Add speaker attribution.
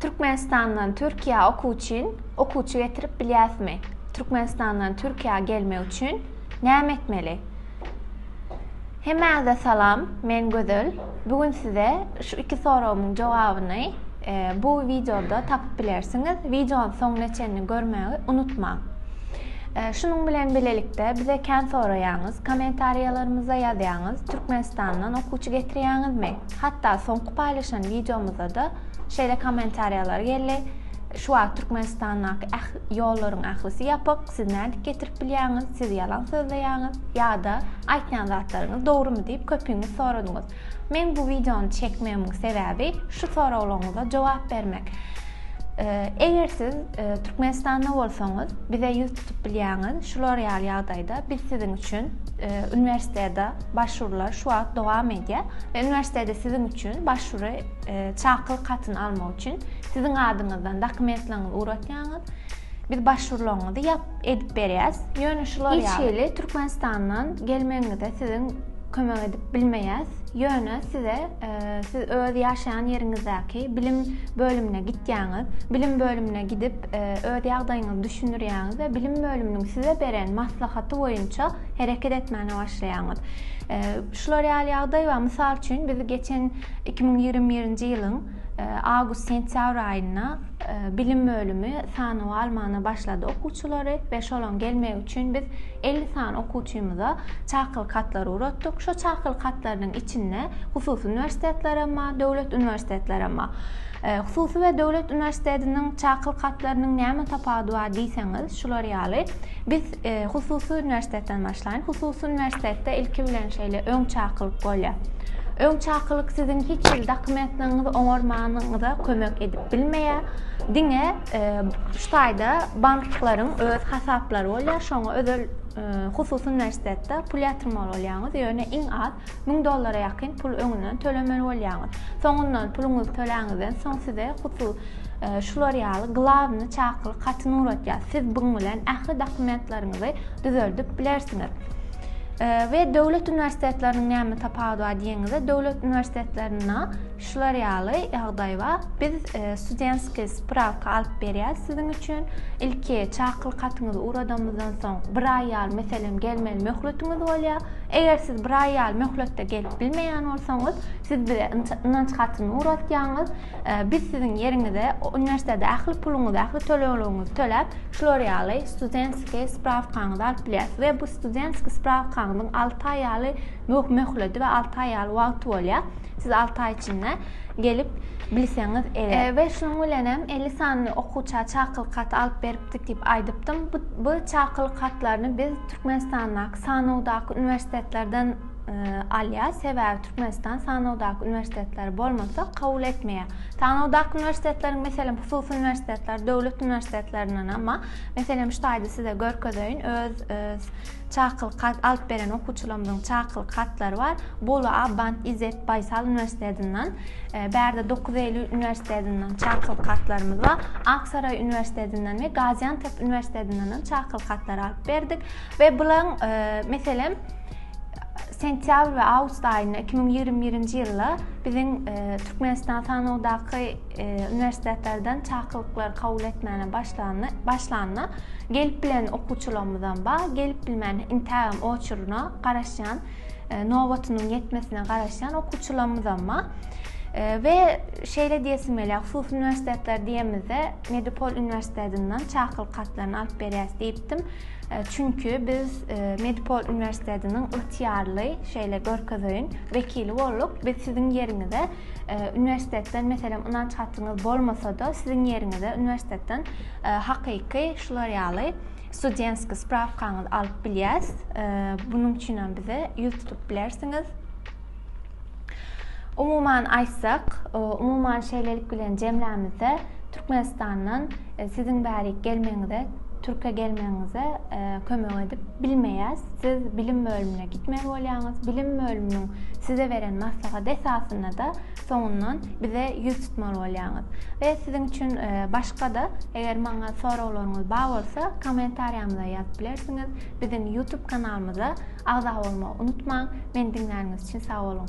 Speaker 1: Türkmenistandan Türkiýä okuw üçin okuwçy getirip bilýäsmi? Türkmenistandan Türkiýä gelmek üçin näme etmeli? Hemmäňize salam, men Gözel. Bu gün size şu iki soragymyň jogabyny e, bu wideoda tapyp bilersiňiz. Wideonyň soňuna çenli görmegi unutmaň. E, şunuň bilen bilelikde bize kän soraýaňyz, kommentariýalarymyza ýazýaňyz, Türkmenistandan okuwçy getirýäňizmi? Hatda soňky paýlaşan wideomyzada-da şeýle kommentariýalar geldi, Şu wagt Türkmenistandaky äh ýollaryň ählisi ýapyk, siz nädip getirip bilýäňiz, siz ýalan sözleýäňiz ýa-da aýtýan zatlaryňyz dogrumy diýip köpüňiz soradyňyz. Meň bu wideony çekmegimiň sebäbi şu soraglaryňyza jogap bermek. Eger siz Türkmenistanda bolsaňyz, bize ýüz tutup bilýäňiz, şular ýaly ýagdaýda biz siziň üçin uniwersitede, Başvurular şu wagt dowam edýär we uniwersitede siziň üçin başwury çakylyk hatyny almak üçin siziň adyňyzdan dokumentleriňizi ugratýaňyz. Biz başwurularyňyzy ýap edip berýäs. Ýöne şular ýaly. Hiç hili Türkmenistandan gelmegiňize siziň kömek edip bilmeýäs. Ýöne size siz öz ýaşaýan ýeriňizdäki bilim bölümine gitýäňiz. Bilim bölümine gidip öz ýagdaýyňyzy düşündirýäňiz we bilim bölüminiň size beren maslahaty boýunça hereket etmäne başlaýaňyz. Şular ýaly ýagdaý bar. Mysal üçin, biz geçen 2021-nji ýylyň e, awgust-sentýabr aýynda e, bilim bölümi sanawa almana başlady okuwçylary we şolaryň gelmegi üçin biz 50 sany okuwçymyza çakylyk hatlary uratdyk. Şu çakylyk hatlarynyň içinde hususy uniwersitetler hem bar, döwlet uniwersitetler hem bar. E, hususy we döwlet uniwersitetiniň çakylyk hatlarynyň näme tapawudy bar diýseňiz, şular ýaly. Biz Hususy uniwersitetden başlaýyn. Hususy uniwersitetde ilki bilen şeýle öň çakylyk bolýar. Öň çakylyk siziň hiç hili dokumentlerinizi oňarmanyňyza kömek edip bilmeýär. Diňe e, şu taýda banklaryň öz hasaplary bolýar. Şoňa özel e, hususy uniwersitetde pul ýatyrmaly bolýaňyz. Ýöne iň az 1000 dollara ýakyn pul öňünden tölemeli bolýaňyz. Soňundan puluňyzy töläňizden soň size hususy şular ýaly glawny çakylyk hatyny uratýar. Siz buň bilen ähli dokumentleriňizi düzeldip bilersiňiz. We döwlet uniwersitetleriniň näme tapawudy bar diýeniňizde, döwlet uniwersitetlerinde şular ýaly ýagdaý bar. Biz e, studentskiý sprawka alyp berýäris siziň üçin. Ilki çakylyk hatyňyzy uradamyzdan soň bir aý ýaly meselem gelmeli möhletiňiz bolýar. Eger siz bir aý ýaly möhletde gelip bilmeýän bolsaňyz, siz bize ynanç hatyny uratýaňyz. Biz siziň ýeriňize uniwersitete ähli puluňyzy, ähli tölegligiňizi töläp, şular ýaly studentskiý sprawkaňyzy alyp bilýäris we bu studentskiý sprawkaňyzyň alty aý ýaly möhleti we alty aý ýaly wagty bolýar. Siz alty aý içinde gelip bilseňiz eger. We şunuň bilen hem elli sany okuwça çakylyk haty alyp beripdik diýip aýdypdym. Bu çakylyk hatlaryny biz Türkmenistandaky sanawdaky uniwersitetlerden alýar, sebäbi Türkmenistan sanawdaky uniwersitetleri bolmasa kabul etmeýär. Sanawdaky uniwersitetleriň meselem hususy uniwersitetler, döwlet uniwersitetlerinden amma meselem şu taýda size görkezeýin, öz e, çakylyk hat alyp beren okuwçylarymyzyň çakylyk hatlary bar. Bolu Abant İzzet Baysal uniwersitetinden, e, Bärde 9 Eylül uniwersitetinden çakylyk hatlarymyz bar. Aksaray uniwersitetinden we Gaziantep uniwersitetinden çakylyk hatlary alyp berdik we bularyň e, meselem sentýabr we awgust aýynda 2021-nji ýylda biziň e, Türkmenistan sanawdaky e, uniwersitetlerden çakylyklary kabul etmäne başlanyna, başlanyna gelip bilen okuwçylarymyzdan ba, gelip bilmän intägem oçuryna garaşýan, e, nobatynyň ýetmesine garaşýan okuwçylarymyzdan ba. E, we şeýle diýesim gelýär, hususy uniwersitetler diýemizde Medipol uniwersitetinden çakylyk hatlaryny alyp berýäs diýipdim. Çünki biz Medipol uniwersitetiniň ygtyýarly, şeýle görkezeýin, wekili bolduk. Biz siziň ýeriňize uniwersitetden, meselem, ynanç hatyňyz bolmasa-da, siziň ýeriňize uniwersitetden hakyky şular ýaly studentskiý sprawkaňyzy alyp bilýäs. Bunuň üçin hem bize ýüz tutup bilersiňiz. Umuman aýtsak, umuman şeýlelik bilen jemlämizde Türkmenistandan e, siziň bärik gelmegiňize, Türkiýe gelmegiňize e, kömek edip bilmeýäs. Siz bilim bölümine gitmeli bolýaňyz. Bilim bölüminiň size beren maslahat esasynda da soňundan bize ýüz tutmaly bolýaňyz. We siziň üçin e, başga-da eger maňa soraglaryňyz bar bolsa, kommentariýamyza ýazyp bilersiňiz. Biziň YouTube kanalymyza agza bolmagy unutmaň, meni diňläniňiz üçin sag boluň!